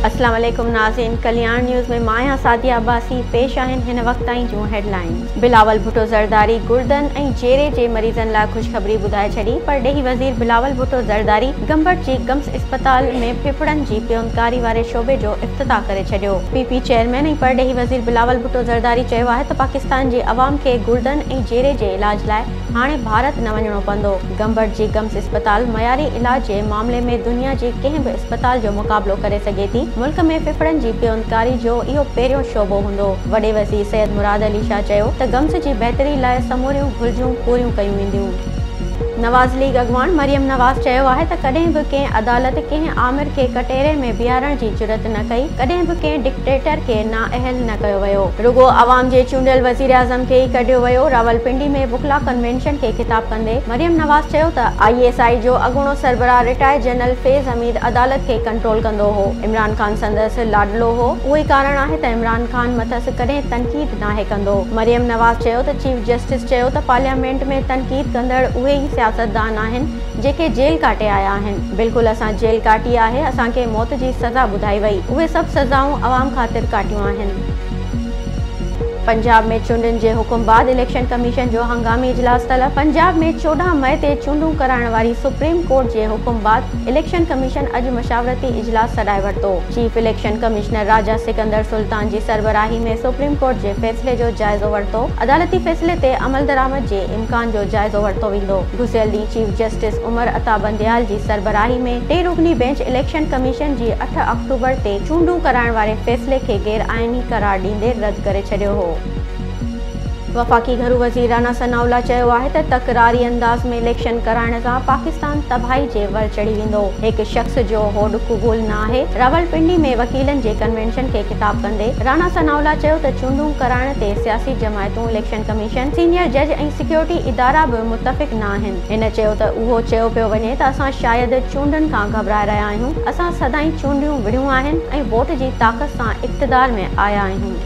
اسلام عليڪم ناظرين ڪلياڻ نيوز ۾ مان آهيان سعديه عباسي پيش آهن هن وقت تائين جون هيڊ لائينز بلاول ڀٽو زرداري گردن ۽ جيري جي مريضن لاء خوشخبري ٻڌائي ڇڏي پرڏيهي وزير بلاول ڀٽو زرداري گمبٽ جي گمس اسپتال ۾ ڦڦڙن جي پيوندڪاري واري شعبي جو افتتاح ڪري ڇڏيو. پي پي چيئرمين ۽ پرڏيهي وزير بلاول ڀٽو زرداري چيو آهي ته پاڪستان جي عوام کي گڙدن ۽ جيري جي علاج لاء هاڻي ڀارت نه وڃڻو پوندو، گمبٽ جي گمس اسپتال معياري علاج جي معاملي ۾ دنيا جي ڪنهن به اسپتال جو مقابلو ڪري سگهي ٿي، ملڪ ۾ ڦڦڙن جي پيوندڪاري جو اهو پهريون شعبو هوندو، وڏي وزير سيد مراد علي شاهه چيو ته گمس جي بهتري لاء سموريون گهرجون پوريون ڪيون وينديون. نواز ليگ اڳواڻ مريم نواز چيو آهي ته ڪڏهن به ڪنهن عدالت ڪنهن آمر کي ڪٽهري ۾ بيهارڻ جي جرئت نه ڪئي، ڪڏهن به ڪنهن ڊڪٽيٽر کي نااهل نه ڪيو ويو، رڳو عوام جي چونڊيل وزيراعظم کي ئي ڪڍيو ويو، راولپنڊي ۾ وڪلا ڪنوينشن کي خطاب ڪندي مريم نواز چيو ته آء ايس آء جو اڳوڻو سربراهه رٽائرڊ جنرل فيض حميد عدالت کي ڪنٽرول ڪندو هو، عمران خان سندس لاڏلو هو، اهوئي ڪارڻ آهي ته عمران خان مٿس ڪڏهن تنقيد. ناهي ڪندو. مريم نواز چيو ته چيف جسٽس چيو ته پارليامينٽ ۾ تنقيد ڪندڙ اهي ئي سياستدان آهن جيڪي جيل ڪاٽي آيا آهن، بلڪل اسان جيل ڪاٽي آهي، اسان کي موت جي سزا ٻڌائي وئي، اهي سڀ سزائون عوام خاطر ڪاٽيون آهن. پنجاب ۾ چونڊن جي حڪم بعد اليڪشن ڪميشن جو هنگامي اجلاس طلب پنجاب ۾ چوڏهن مئي تي چونڊون ڪرائڻ واري سپريم ڪورٽ جي حڪم بعد اليڪشن ڪميشن اڄ مشاورتي اجلاس سڏائي ورتو، chief election commissioner Raja Sikandar Sultan جي سربراهي ۾ سپريم ڪورٽ جي فيصلي جو جائزو ورتو، عدالتي فيصلي تي عملدرآمد جي امڪان جو جائزو ورتو ويندو، گذريل ڏينهن چيف جسٽس عمر عطا بنديال جي سربراهي ۾ ٽي رڪني بينچ اليڪشن ڪميشن جي اٺ آڪٽوبر تي چونڊون ڪرائڻ واري فيصلي کي غير آئيني قرار ڏيندي رد ڪري ڇڏيو هو. وفاقي گهرو وزير رانا ثناء الله چيو آهي ته تڪراري انداز ۾ اليڪشن ڪرائڻ سان پاڪستان تباهي جي ور چڙهي ويندو، هڪ شخص جو هوڏ قبول نه آهي، راولپنڊي ۾ وڪيلن جي ڪنوينشن کي خطاب ڪندي رانا ثناء الله چيو ته چونڊون ڪرائڻ تي سياسي جماعتون، اليڪشن ڪميشن، سينيئر جج ۽ سيڪيورٽي ادارا به متفق نه آهن، هن چيو ته اهو چيو پيو وڃي ته اسان شايد چونڊن کان گهٻرائي رهيا آهيون، اسان سدائين چونڊيون وڙهيون آهن ۽ ووٽ جي طاقت سان اقتدار ۾ آيا آهيون.